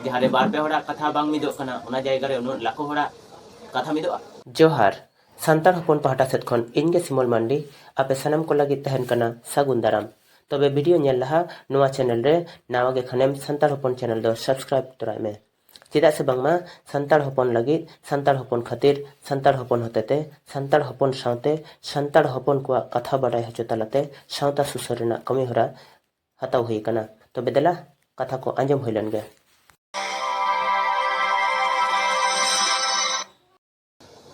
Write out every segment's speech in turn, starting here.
ᱡᱟᱦᱟᱸ ᱨᱮ ᱵᱟᱨ ᱯᱮ ᱦᱚᱲᱟᱜ ᱠᱟᱛᱷᱟ ᱵᱟᱝ ᱢᱤᱫᱚᱜ ᱠᱟᱱᱟ ᱚᱱᱟ ᱡᱟᱭᱜᱟ ᱨᱮ ᱩᱱᱟᱹᱜ ᱞᱟᱠᱷᱚ ᱦᱚᱲᱟᱜ ᱠᱟᱛᱷᱟ ᱢᱤᱫᱚᱜᱼᱟ ᱡᱚᱦᱟᱨ ᱥᱟᱱᱛᱟᱲ ᱦᱚᱯᱚᱱ ᱯᱟᱦᱴᱟ ᱥᱮᱫ ᱠᱷᱚᱱ ᱤᱧ ᱜᱮ ᱥᱤᱢᱚᱞ ᱢᱟᱱᱰᱤ ᱟᱯᱮ ᱥᱟᱱᱟᱢ ᱠᱚ ᱞᱟᱹᱜᱤᱫ ᱛᱟᱦᱮᱱ ᱠᱟᱱᱟ ᱥᱟᱹᱜᱩᱱ ᱫᱟᱨᱟᱢ ᱛᱚᱵᱮ ᱵᱷᱤᱰᱤᱭᱳ ᱧᱮᱞ ᱞᱟᱦᱟ ᱱᱚᱣᱟ ᱪᱮᱱᱮᱞ ᱨᱮ ᱱᱟᱣᱟ ᱜᱮ ᱠᱷᱟᱱᱮᱢ ᱥᱟᱱᱛᱟᱲ ᱦᱚᱯᱚᱱ ᱪᱮᱱᱮᱞ ᱫᱚ ᱥᱟᱵᱥᱠᱨᱟᱭᱤᱵ ᱛᱚᱨᱟᱭ ᱢᱮ ᱪᱮᱫᱟᱜ ᱥᱮ ᱵᱟᱝᱢᱟ ᱥᱟᱱᱛᱟᱲ ᱦᱚᱯᱚᱱ ᱞᱟᱹᱜᱤᱫ ᱥᱟᱱᱛᱟᱲ ᱦᱚᱯᱚᱱ ᱠᱷᱟᱹᱛᱤᱨ ᱥᱟᱱᱛᱟᱲ ᱦᱚᱯᱚᱱ ᱦᱚᱛᱮᱛᱮ ᱥᱟᱱᱛᱟᱲ ᱦᱚᱯᱚᱱ ᱥᱟᱶᱛᱮ ᱥᱟᱱᱛᱟᱲ ᱦᱚᱯᱚᱱ ᱠᱚᱣᱟᱜ ᱠᱟᱛᱷᱟ ᱵᱟᱰᱟᱭ ᱦᱚᱪᱚ ᱛᱟᱞᱟᱛᱮ ᱥᱟᱶᱛᱟ ᱥᱩᱥᱟᱹᱨ ᱨᱮᱱᱟᱜ ᱠᱟᱹᱢᱤᱦᱚᱨᱟ ᱦᱟᱛᱟᱣ ᱦᱩᱭ ᱟᱠᱟᱱᱟ ᱛᱚᱵᱮ ᱫᱮᱞᱟ ᱠᱟᱛᱷᱟ ᱠᱚ ᱟᱸᱡᱚᱢ ᱦᱩᱭ ᱞᱮᱱ ᱜᱮ᱾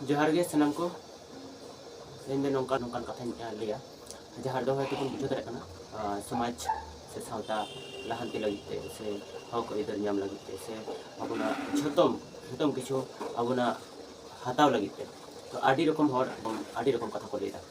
ᱡᱚᱦᱟᱨ ᱜᱮ ᱥᱟᱱᱟᱢ ᱠᱚ ᱤᱧ ᱫᱚ ᱱᱚᱝᱠᱟ ᱱᱚᱝᱠᱟᱱ ᱠᱟᱛᱷᱟᱧ ᱞᱟᱹᱭᱟ ᱡᱟᱦᱟᱸ ᱫᱚ ᱦᱚᱭᱛᱚ ᱵᱚᱱ ᱵᱩᱡᱷᱟᱹᱣ ᱫᱟᱲᱮᱭᱟᱜ ᱠᱟᱱᱟ ᱥᱚᱢᱟᱡᱽ ᱥᱮ ᱥᱟᱶᱛᱟ ᱞᱟᱦᱟᱱᱛᱤ ᱞᱟᱹᱜᱤᱫ ᱛᱮ ᱥᱮ ᱦᱚᱠ ᱟᱹᱭᱫᱟᱹᱨ ᱧᱟᱢ ᱞᱟᱹᱜᱤᱫ ᱛᱮ ᱥᱮ ᱟᱵᱚᱱᱟᱜ ᱡᱷᱚᱛᱚ ᱡᱷᱚᱛᱚ ᱠᱤᱪᱷᱩ ᱟᱵᱚᱱᱟᱜ ᱦᱟᱛᱟᱣ ᱞᱟᱹᱜᱤᱫ ᱛᱮ ᱛᱚ ᱟᱹᱰᱤ ᱨᱚᱠᱚᱢ ᱦᱚᱲ ᱟᱹᱰᱤ ᱨᱚᱠᱚᱢ ᱠᱟᱛᱷᱟ ᱠᱚ ᱞᱟᱹᱭ ᱮᱫᱟ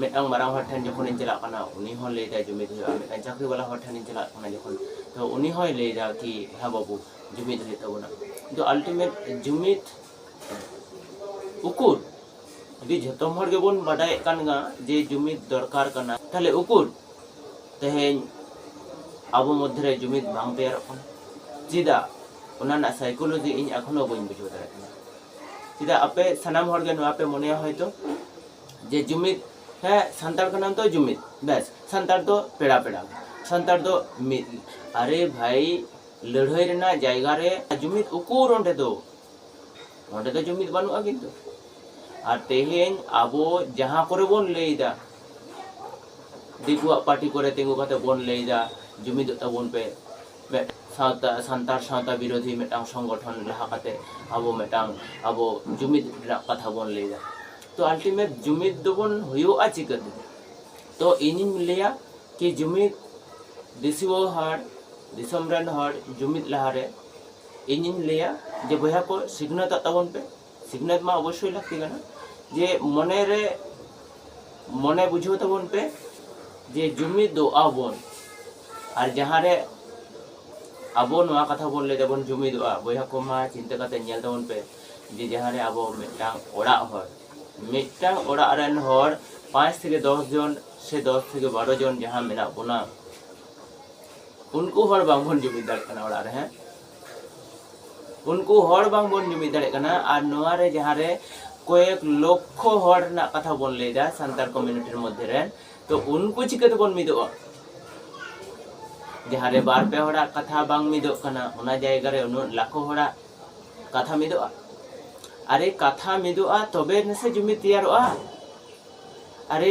ᱢᱤᱫᱴᱟᱝ ᱢᱟᱨᱟᱝ ᱦᱚᱲ ᱴᱷᱮᱱ ᱡᱚᱠᱷᱚᱱᱤᱧ ᱪᱟᱞᱟᱜ ᱠᱟᱱᱟ ᱩᱱᱤ ᱦᱚᱸ ᱞᱟᱹᱭ ᱮᱫᱟᱭ ᱡᱩᱢᱤᱫ ᱦᱩᱭᱩᱜᱼᱟ ᱢᱤᱫᱴᱟᱝ ᱪᱟᱹᱠᱨᱤ ᱵᱟᱞᱟ ᱦᱚᱲ ᱴᱷᱮᱱᱤᱧ ᱪᱟᱞᱟᱜ ᱠᱟᱱᱟ ᱡᱚᱠᱷᱚᱱ ᱛᱚ ᱩᱱᱤ ᱦᱚᱸᱭ ᱞᱟᱹᱭ ᱮᱫᱟ ᱠᱤ ᱦᱮᱸ ᱵᱟᱹᱵᱩ ᱡᱩᱢᱤᱫ ᱦᱩᱭᱩᱜ ᱛᱟᱵᱚᱱᱟ ᱠᱤᱱᱛᱩ ᱟᱞᱴᱤᱢᱮᱴ ᱡᱩᱢᱤᱫ ᱩᱠᱩᱨ ᱡᱩᱫᱤ ᱡᱷᱚᱛᱚ ᱦᱚᱲ ᱜᱮᱵᱚᱱ ᱵᱟᱰᱟᱭᱮᱫ ᱠᱟᱱ ᱜᱟ ᱡᱮ ᱡᱩᱢᱤᱫ ᱫᱚᱨᱠᱟᱨ ᱠᱟᱱᱟ ᱛᱟᱦᱞᱮ ᱩᱠᱩᱨ ᱛᱮᱦᱮᱧ ᱟᱵᱚ ᱢᱚᱫᱽᱫᱷᱮ ᱨᱮ ᱡᱩᱢᱤᱫ ᱵᱟᱝ ᱛᱮᱭᱟᱨᱚᱜ ᱠᱟᱱᱟ ᱪᱮᱫᱟᱜ ᱚᱱᱟ ᱨᱮᱱᱟᱜ ᱥᱟᱭᱠᱳᱞᱚᱡᱤ ᱤᱧ ᱮᱠᱷᱚᱱᱳ ᱵᱟᱹᱧ ᱵᱩᱡᱷᱟᱹᱣ ᱫᱟᱲᱮᱭᱟᱜ ᱠᱟᱱᱟ ᱪᱮᱫᱟᱜ ᱟᱯᱮ ᱥᱟᱱᱟᱢ ᱦᱚᱲ ᱜᱮ ᱱᱚᱣᱟ ᱯᱮ ᱢᱚᱱᱮᱭᱟ ᱦᱚᱭᱛᱚ ᱡᱮ ᱡᱩᱢᱤᱫ ᱦᱮᱸ ᱥᱟᱱᱛᱟᱲ ᱠᱟᱱᱟᱢ ᱛᱚ ᱡᱩᱢᱤᱫ ᱵᱮᱥ ᱥᱟᱱᱛᱟᱲ ᱫᱚ ᱯᱮᱲᱟ ᱯᱮᱲᱟ ᱥᱟᱱᱛᱟᱲ ᱫᱚ ᱢᱤᱫ ᱟᱨᱮ ᱵᱷᱟᱭ ᱞᱟᱹᱲᱦᱟᱹᱭ ᱨᱮᱱᱟᱜ ᱡᱟᱭᱜᱟ ᱨᱮ ᱡᱩᱢᱤᱫ ᱩᱠᱩᱨ ᱚᱸᱰᱮ ᱫᱚ ᱚᱸᱰᱮ ᱫᱚ ᱡᱩᱢᱤᱫ ᱵᱟᱹᱱᱩᱜᱼᱟ ᱠᱤᱱᱛᱩ ᱟᱨ ᱛᱮᱦᱮᱧ ᱟᱵᱚ ᱡᱟᱦᱟᱸ ᱠᱚᱨᱮ ᱵᱚᱱ ᱞᱟᱹᱭᱫᱟ ᱫᱤᱠᱩᱣᱟᱜ ᱯᱟᱨᱴᱤ ᱠᱚᱨᱮ ᱛᱤᱸᱜᱩ ᱠᱟᱛᱮ ᱵᱚᱱ ᱞᱟᱹᱭᱫᱟ ᱡᱩᱢᱤᱫᱚᱜ ᱛᱟᱵᱚᱱ ᱯᱮ ᱥᱟᱶᱛᱟ ᱥᱟᱱᱛᱟᱲ ᱥᱟᱶᱛᱟ ᱵᱤᱨᱳᱫᱷᱤ ᱢᱤᱫᱴᱟᱝ ᱥᱚᱝᱜᱚᱴᱷᱚᱱ ᱞᱟᱦᱟ ᱠᱟᱛᱮ ᱟᱵᱚ ᱢᱤᱫᱴᱟᱝ ᱟᱵᱚ ᱡᱩᱢᱤᱫ ᱨᱮᱱᱟᱜ ᱠᱟᱛᱷᱟ ᱵᱚᱱ ᱞᱟᱹᱭᱫᱟ ᱛᱚ ᱟᱞᱴᱤᱢᱮᱴ ᱡᱩᱢᱤᱫ ᱫᱚᱵᱚᱱ ᱦᱩᱭᱩᱜᱼᱟ ᱪᱤᱠᱟᱹᱛᱮ ᱛᱚ ᱤᱧᱤᱧ ᱞᱟᱹᱭᱟ ᱠᱤ ᱡᱩᱢᱤᱫ ᱫᱤᱥᱩᱣᱟᱹ ᱦᱚᱲ ᱫᱤᱥᱚᱢ ᱨᱮᱱ ᱦᱚᱲ ᱡᱩᱢᱤᱫ ᱞᱟᱦᱟᱨᱮ ᱤᱧᱤᱧ ᱞᱟᱹᱭᱟ ᱡᱮ ᱵᱚᱭᱦᱟ ᱠᱚ ᱥᱤᱠᱷᱱᱟᱹᱛᱚᱜ ᱛᱟᱵᱚᱱ ᱯᱮ ᱥᱤᱠᱷᱱᱟᱹᱛ ᱢᱟ ᱚᱵᱚᱥᱥᱳᱭ ᱞᱟᱹᱠᱛᱤ ᱠᱟᱱᱟ ᱡᱮ ᱢᱚᱱᱮ ᱨᱮ ᱢᱚᱱᱮ ᱵᱩᱡᱷᱟᱹᱣ ᱛᱟᱵᱚᱱ ᱯᱮ ᱡᱮ ᱡᱩᱢᱤᱫ ᱫᱚ ᱟᱵᱚᱱ ᱟᱨ ᱡᱟᱦᱟᱸ ᱨᱮ ᱟᱵᱚ ᱱᱚᱣᱟ ᱠᱟᱛᱷᱟ ᱵᱚᱱ ᱞᱟᱹᱭ ᱫᱟᱵᱚᱱ ᱡᱩᱢᱤᱫᱚᱜᱼᱟ ᱵᱚᱭᱦᱟ ᱠᱚ ᱢᱟ ᱪᱤᱱᱛᱟᱹ ᱠᱟᱛᱮ ᱧᱮᱞ ᱛᱟᱵᱚᱱ ᱯᱮ ᱡᱮ ᱡᱟᱦᱟᱸ ᱨᱮ ᱟᱵᱚ ᱢᱤᱫᱴᱟᱝ ᱚᱲᱟᱜ ᱦᱚᱲ ᱢᱤᱫᱴᱟᱝ ᱚᱲᱟᱜ ᱨᱮᱱ ᱦᱚᱲ ᱯᱟᱸᱪ ᱛᱷᱮᱠᱮ ᱫᱚᱥ ᱡᱚᱱ ᱥᱮ ᱫᱚᱥ ᱛᱷᱮᱠᱮ ᱵᱟᱨᱚ ᱡᱚᱱ ᱡᱟᱦᱟᱸ ᱢᱮᱱᱟᱜ ᱵᱚᱱᱟ ᱩᱱᱠᱩ ᱦᱚᱲ ᱵᱟᱝᱵᱚᱱ ᱡᱩᱢᱤᱫ ᱫᱟᱲᱮᱭᱟᱜ ᱠᱟᱱᱟ ᱚᱲᱟᱜ ᱨᱮ ᱦᱮᱸ ᱩᱱᱠᱩ ᱦᱚᱲ ᱵᱟᱝᱵᱚᱱ ᱡᱩᱢᱤᱫ ᱫᱟᱲᱮᱭᱟᱜ ᱠᱟᱱᱟ ᱟᱨ ᱱᱚᱣᱟ ᱨᱮ ᱡᱟᱦᱟᱸ ᱨᱮ ᱠᱚᱭᱮᱠ ᱞᱚᱠᱷᱚ ᱦᱚᱲ ᱨᱮᱱᱟᱜ ᱠᱟᱛᱷᱟ ᱵᱚᱱ ᱞᱟᱹᱭᱫᱟ ᱥᱟᱱᱛᱟᱲ ᱠᱚᱢᱤউᱱᱤᱴᱤ ᱢᱚᱫᱽᱫᱷᱮ ᱨᱮ ᱛᱚ ᱩᱱᱠᱩ ᱪᱤᱠᱟᱹ ᱛᱮᱵᱚᱱ ᱢᱤᱫᱚᱜᱼᱟ ᱡᱟᱦᱟᱸ ᱨᱮ ᱵᱟᱨ ᱯᱮ ᱦᱚᱲᱟᱜ ᱠᱟᱛᱷᱟ ᱵᱟᱝ ᱢᱤᱫᱚᱜ ᱠᱟᱱᱟ ᱚᱱᱟ ᱡᱟᱭᱜᱟ ᱨᱮ ᱩᱱᱟᱹᱜ ᱞᱟᱠᱷᱚ ᱦᱚᱲᱟᱜ ᱠᱟᱛᱷᱟ ᱢᱤᱫᱚᱜᱼᱟ ᱟᱨᱮ ᱠᱟᱛᱷᱟ ᱢᱤᱫᱚᱜᱼᱟ ᱛᱚᱵᱮ ᱱᱟᱥᱮ ᱡᱩᱢᱤᱫ ᱛᱮᱭᱟᱨᱚᱜᱼᱟ ᱟᱨᱮ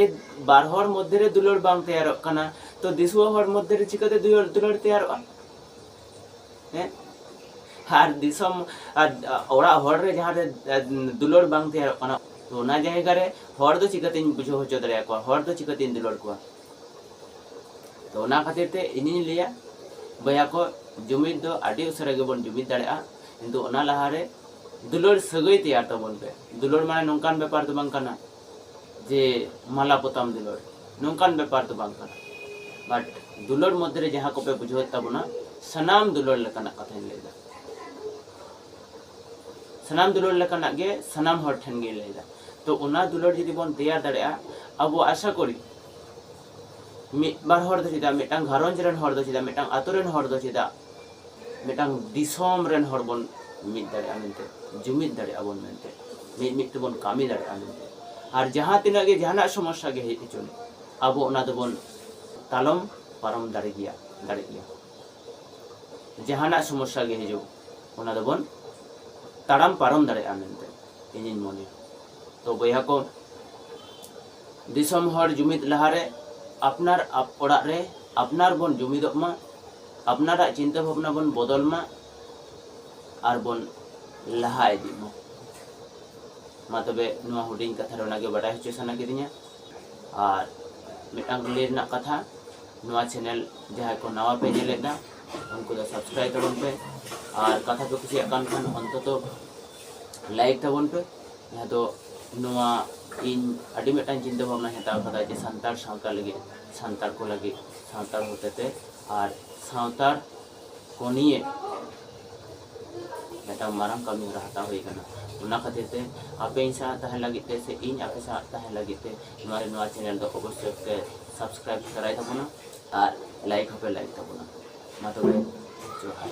ᱵᱟᱨ ᱦᱚᱲ ᱢᱚᱫᱽᱫᱷᱮ ᱨᱮ ᱫᱩᱞᱟᱹᱲ ᱵᱟᱝ ᱛᱮᱭᱟᱨᱚᱜ ᱠᱟᱱᱟ ᱛᱚ ᱫᱤᱥᱩᱣᱟᱹ ᱦᱚᱲ ᱢᱚᱫᱽᱫᱷᱮ ᱨᱮ ᱪᱤᱠᱟᱹᱛᱮ ᱫᱩᱞᱟᱹᱲ ᱛᱮᱭᱟᱨᱚᱜᱼᱟ ᱦᱮᱸ ᱟᱨ ᱫᱤᱥᱚᱢ ᱚᱲᱟᱜ ᱦᱚᱲ ᱨᱮ ᱡᱟᱦᱟᱸ ᱨᱮ ᱫᱩᱞᱟᱹᱲ ᱵᱟᱝ ᱛᱮᱭᱟᱨᱚᱜ ᱠᱟᱱᱟ ᱛᱚ ᱚᱱᱟ ᱡᱟᱭᱜᱟ ᱨᱮ ᱦᱚᱲ ᱫᱚ ᱪᱤᱠᱟᱹᱛᱤᱧ ᱵᱩᱡᱷᱟᱹᱣ ᱦᱚᱪᱚ ᱫᱟᱲᱮᱭᱟᱠᱚᱣᱟ ᱦᱚᱲ ᱫᱚ ᱪᱤᱠᱟᱹᱛᱤᱧ ᱫᱩᱞᱟᱹᱲ ᱠᱚᱣᱟ ᱛᱚ ᱚᱱᱟ ᱠᱷᱟᱹᱛᱤᱨ ᱛᱮ ᱤᱧᱤᱧ ᱞᱟᱹᱭᱟ ᱵᱚᱭᱦᱟ ᱠᱚ ᱡᱩᱢᱤᱫ ᱫᱚ ᱟᱹᱰᱤ ᱩᱥᱟᱹᱨᱟ ᱜᱮᱵᱚᱱ ᱡᱩᱢᱤᱫ ᱫᱟᱲᱮᱭᱟᱜᱼᱟ ᱠᱤᱱᱛᱩ ᱚᱱᱟ ᱞᱟᱦᱟᱨᱮ ᱫᱩᱞᱟᱹᱲ ᱥᱟᱹᱜᱟᱹᱭ ᱛᱮᱭᱟᱨ ᱛᱟᱵᱚᱱ ᱯᱮ ᱫᱩᱞᱟᱹᱲ ᱢᱟᱱᱮ ᱱᱚᱝᱠᱟᱱ ᱵᱮᱯᱟᱨ ᱫᱚ ᱵᱟᱝ ᱠᱟᱱᱟ ᱡᱮ ᱢᱟᱞᱟ ᱯᱚᱛᱟᱢ ᱫᱩᱞᱟᱹᱲ ᱱᱚᱝᱠᱟᱱ ᱵᱮᱯᱟᱨ ᱫᱚ ᱵᱟᱝ ᱠᱟᱱᱟ ᱵᱟᱴ ᱫᱩᱞᱟᱹᱲ ᱢᱚᱫᱽᱫᱷᱮ ᱨᱮ ᱡᱟᱦᱟᱸ ᱠᱚᱯᱮ ᱵᱩᱡᱷᱟᱹᱣᱮᱫ ᱛᱟᱵᱚᱱᱟ ᱥᱟᱱᱟᱢ ᱫᱩᱞᱟᱹᱲ ᱞᱮᱠᱟᱱᱟᱜ ᱠᱟᱛᱷᱟᱧ ᱞᱟᱹᱭᱫᱟ ᱥᱟᱱᱟᱢ ᱫᱩᱞᱟᱹᱲ ᱞᱮᱠᱟᱱᱟᱜ ᱜᱮ ᱥᱟᱱᱟᱢ ᱦᱚᱲ ᱴᱷᱮᱱ ᱜᱮ ᱞᱟᱹᱭ ᱮᱫᱟ ᱛᱚ ᱚᱱᱟ ᱫᱩᱞᱟᱹᱲ ᱡᱩᱫᱤ ᱵᱚᱱ ᱛᱮᱭᱟᱨ ᱫᱟᱲᱮᱭᱟᱜᱼᱟ ᱟᱵᱚ ᱟᱥᱟ ᱠᱚᱨᱤ ᱢᱤᱫ ᱵᱟᱨ ᱦᱚᱲ ᱫᱚ ᱪᱮᱫᱟᱜ ᱢᱤᱫᱴᱟᱝ ᱜᱷᱟᱨᱚᱸᱡᱽ ᱨᱮᱱ ᱦᱚᱲ ᱫᱚ ᱪᱮᱫᱟᱜ ᱢᱤᱫᱴᱟᱝ ᱟᱛᱳ ᱨᱮᱱ ᱦᱚᱲ ᱫᱚ ᱪᱮᱫᱟᱜ ᱢᱤᱫᱴᱟᱝ ᱫᱤᱥᱚᱢ ᱨᱮᱱ ᱦᱚᱲ ᱵᱚᱱ ᱢᱤᱫ ᱫᱟᱲᱮᱭᱟᱜᱼᱟ ᱢᱮᱱᱛᱮ ᱡᱩᱢᱤᱫ ᱫᱟᱲᱮᱭᱟᱜᱼᱟ ᱵᱚᱱ ᱢᱮᱱᱛᱮ ᱢᱤᱫ ᱢᱤᱫ ᱛᱮᱵᱚᱱ ᱠᱟᱹᱢᱤ ᱫᱟᱲᱮᱭᱟᱜᱼᱟ ᱢᱮᱱᱛᱮ ᱟᱨ ᱡᱟᱦᱟᱸ ᱛᱤᱱᱟᱹᱜ ᱜᱮ ᱡᱟᱦᱟᱱᱟᱜ ᱥᱚᱢᱚᱥᱥᱟ ᱜᱮ ᱦᱮᱡ ᱦᱚᱪᱚᱱ ᱟᱵᱚ ᱚᱱᱟ ᱫᱚᱵᱚᱱ ᱛᱟᱞᱚᱢ ᱯᱟᱨᱚᱢ ᱫᱟᱲᱮ ᱜᱮᱭᱟ ᱫᱟᱲᱮᱜ ᱜᱮᱭᱟ ᱡᱟᱦᱟᱱᱟᱜ ᱥᱚᱢᱚᱥᱥᱟ ᱜᱮ ᱦᱤᱡᱩᱜ ᱚᱱᱟ ᱫᱚᱵᱚᱱ ᱛᱟᱲᱟᱢ ᱯᱟᱨᱚᱢ ᱫᱟᱲᱮᱭᱟᱜᱼᱟ ᱢᱮᱱᱛᱮ ᱤᱧᱤᱧ ᱢᱚᱱᱮᱭᱟ ᱛᱚ ᱵᱚᱭᱦᱟ ᱠᱚ ᱫᱤᱥᱚᱢ ᱦᱚᱲ ᱡᱩᱢᱤᱫ ᱞᱟᱦᱟᱨᱮ ᱟᱯᱱᱟᱨ ᱚᱲᱟᱜ ᱨᱮ ᱟᱯᱱᱟᱨ ᱵᱚᱱ ᱡᱩᱢᱤᱫᱚᱜ ᱢᱟ ᱟᱯᱱᱟᱨᱟᱜ ᱪᱤᱱᱛᱟᱹ ᱵᱷᱟᱵᱽᱱᱟ ᱵᱚᱱ ᱵᱚᱫᱚᱞ ᱢᱟ ᱟᱨ ᱵᱚᱱ ᱞᱟᱦᱟ ᱤᱫᱤᱜ ᱢᱟ ᱢᱟ ᱛᱚᱵᱮ ᱱᱚᱣᱟ ᱦᱩᱰᱤᱧ ᱠᱟᱛᱷᱟ ᱨᱮ ᱚᱱᱟᱜᱮ ᱵᱟᱰᱟᱭ ᱦᱚᱪᱚ ᱥᱟᱱᱟ ᱠᱤᱫᱤᱧᱟ ᱟᱨ ᱢᱤᱫᱴᱟᱝ ᱞᱟᱹᱭ ᱨᱮᱱᱟᱜ ᱠᱟᱛᱷᱟ ᱱᱚᱣᱟ ᱪᱮᱱᱮᱞ ᱡᱟᱦᱟᱸᱭ ᱠᱚ ᱱᱟᱣᱟ ᱯᱮ ᱧᱮᱞᱮᱫᱟ ᱩᱱᱠᱩ ᱫᱚ ᱥᱟᱵᱥᱠᱨᱟᱭᱤᱵ ᱛᱟᱵᱚᱱ ᱯᱮ ᱟᱨ ᱠᱟᱛᱷᱟ ᱠᱚ ᱠᱩᱥᱤᱭᱟᱜ ᱠᱟᱱ ᱠᱷᱟᱱ ᱚᱱᱛᱚᱛᱚ ᱞᱟᱭᱤᱠ ᱛᱟᱵᱚᱱ ᱯᱮ ᱡᱟᱦᱟᱸ ᱫᱚ ᱱᱚᱣᱟ ᱤᱧ ᱟᱹᱰᱤ ᱢᱤᱫᱴᱟᱝ ᱪᱤᱱᱛᱟᱹ ᱵᱷᱟᱵᱱᱟ ᱦᱟᱛᱟᱣ ᱠᱟᱫᱟ ᱡᱮ ᱥᱟᱱᱛᱟᱲ ᱥᱟᱶᱛᱟ ᱞᱟᱹᱜᱤᱫ ᱥᱟᱱᱛᱟᱲ ᱠᱚ ᱞᱟᱹᱜᱤᱫ ᱥᱟᱱᱛᱟᱲ ᱦᱚᱛᱮᱛᱮ ᱟᱨ ᱥᱟᱶᱛᱟᱲ ᱠᱚ ᱱᱤᱭᱮ ᱢᱤᱫᱴᱟᱝ ᱢᱟᱨᱟᱝ ᱠᱟᱹᱢᱤ ᱦᱚᱨᱟ ᱦᱟᱛᱟᱣ ᱦᱩᱭ ᱠᱟᱱᱟ ᱚᱱᱟ ᱠᱷᱟᱹᱛᱤᱨ ᱛᱮ ᱟᱯᱮ ᱤᱧ ᱥᱟᱶ ᱛᱟᱦᱮᱸ ᱞᱟᱹᱜᱤᱫ ᱛᱮ ᱥᱮ ᱤᱧ ᱟᱯᱮ ᱥᱟᱶ ᱛᱟᱦᱮᱸ ᱞᱟᱹᱜᱤᱫ ᱛᱮ ᱱᱚᱣᱟ ᱱᱚᱣᱟ ᱪᱮᱱᱮᱞ ᱫᱚ ᱚᱵᱚᱥᱥᱳᱭ ᱯᱮ ᱥᱟᱵᱥᱠᱨᱟᱭᱤᱵ ᱫᱟᱨᱟᱭ ᱛᱟᱵᱚᱱᱟ ᱟᱨ ᱞᱟᱭᱤᱠ ᱦᱚᱸᱯᱮ ᱞᱟᱭᱤᱠ ᱛᱟᱵᱚᱱᱟ ᱢᱟ ᱛᱚᱵᱮ ᱡᱚᱦᱟᱨ